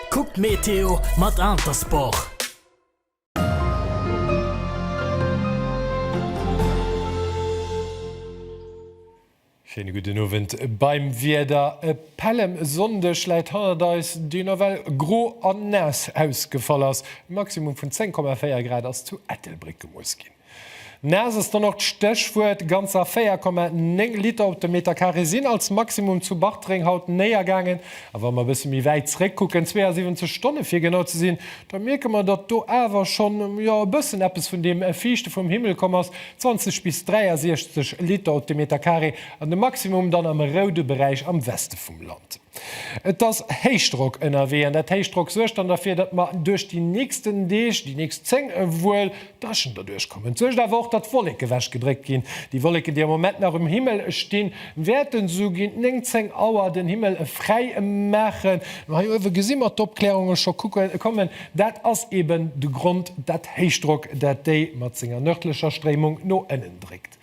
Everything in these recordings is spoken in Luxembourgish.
Kuck d'Meteo mat Intersport! Schéine gudden Owend beim Wieder. E Pällemsonndeg läit hannert eis, deen nawell gro an naass ausgefall ass. E Maximum vun 10,4 Grad ass zu Ettelbréck gemooss ginn. Naass ass dann och d'Stéchwuert. Ganzer 4,9 Liter op de Meter Carré sinn als Maximum zu Bartreng haut néiergaangen. A wa mer e bësse méi wäit zréckkucken, 72 Stonne fir genau ze sinn, da mierke mer, datt do awer schonn, jo, e bëssen eppes vun deem Fiichte vum Himmel komm ass, 20 bis 63 Liter op de Meter Carré an de Maximum dann am roude Beräich am Weste vum Land. Et ass Héichdrock ënnerwee an dat Héichdrock suergt dann derfir, datt mer duerch déi nächsten Deeg, déi nächst 10 ewuel dréchen doduerch kommen. Et suergt awer och, datt Wolleke ewechgedréckt ginn. Déi Wolleken, déi am Moment nach um Himmel stinn, wäerten esou géint 9, 10 Auer den Himmel fräi maachen. Hei uewe gesi mer d'Opklärunge scho kommen. Dat ass eeben de Grond, dat Héichdrock, dat déi mat senger nërdlecher Stréimung no ënnen dréckt.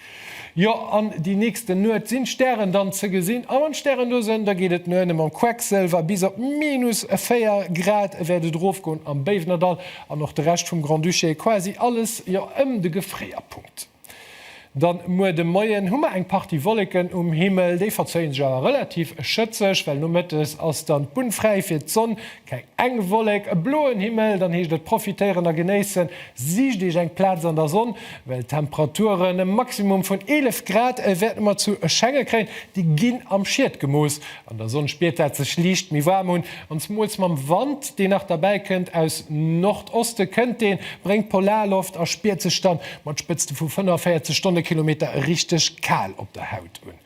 Jo, an déi nächsten Nuet sinn d'Stären dann ze gesinn, a mam Stärendosen, da geet et no ënne mam Quecksëlwer, bis op minus 4 Grad wäert et erofgoen am Béiwnerdall an och de Rescht vum Grand-Duché, quasi alles, jo, ëm de Gefréierpunkt. Dann muer de Moien hu mer eng Partie Wolleken um Himmel, déi verzéie sech awer relativ schëtzeg, well nomëttes ass dann d'Bunn fräi fir d'Sonn, Keng eng Wollek, e bloen Himmel, dann heescht et profitéieren a genéissen. Sicht Iech eng Plaz an der Sonn, well d'Temperaturen e Maximum vun 11 Grad wäerte mer zu erschenge kréien, déi ginn am Schiet gemooss. An der Sonn spiert dat sech liicht méi waarm un an zemools mam Wand, deen nach derbäi kënnt aus Nordoste kënnt deen, bréngt Polarloft a spiert sech dann mat Spëtzte vu 45 Stonnekilometer richteg kal op der Haut un.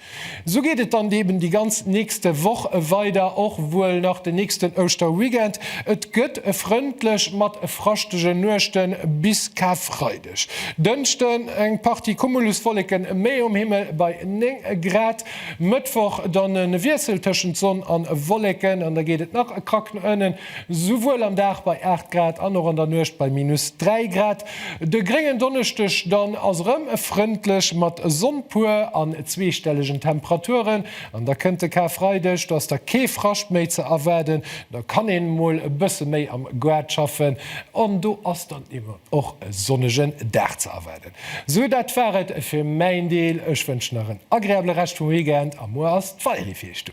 Sou geet et dann eben déi ganz nächst Woch weider, och wuel nach den nächsten Ouschterweekend. Et gëtt e frëndlech mat fraschtegen Nuechten bis Karfreideg. Dënschden eng Partie Cumuluswolleken méi um Himmel bei 9 Grad. Mëttwoch dann e Wiessel tëschent Sonn a Wolleken an da geet et nach e Krack no ënnen. Souwuel am Dag bei 8 Grad an och an der Nuecht bei minus 3 Grad. De gréngen Donneschdeg dann ass erëm frëndlech mat Sonn puer an zweestellegen Temperaturen. An da kënnt de Karfreideg, do ass da kee Frascht méi ze erwaarden, do kann een emol e bësse méi am Gaart schaffen an do ass dann eben och e sonnegen Dag ze erwaarden. Sou dat war et fir mäin Deel. Ech wënschen nach en agreabele Rescht vum Weekend a muer ass d'Valérie fir iech do.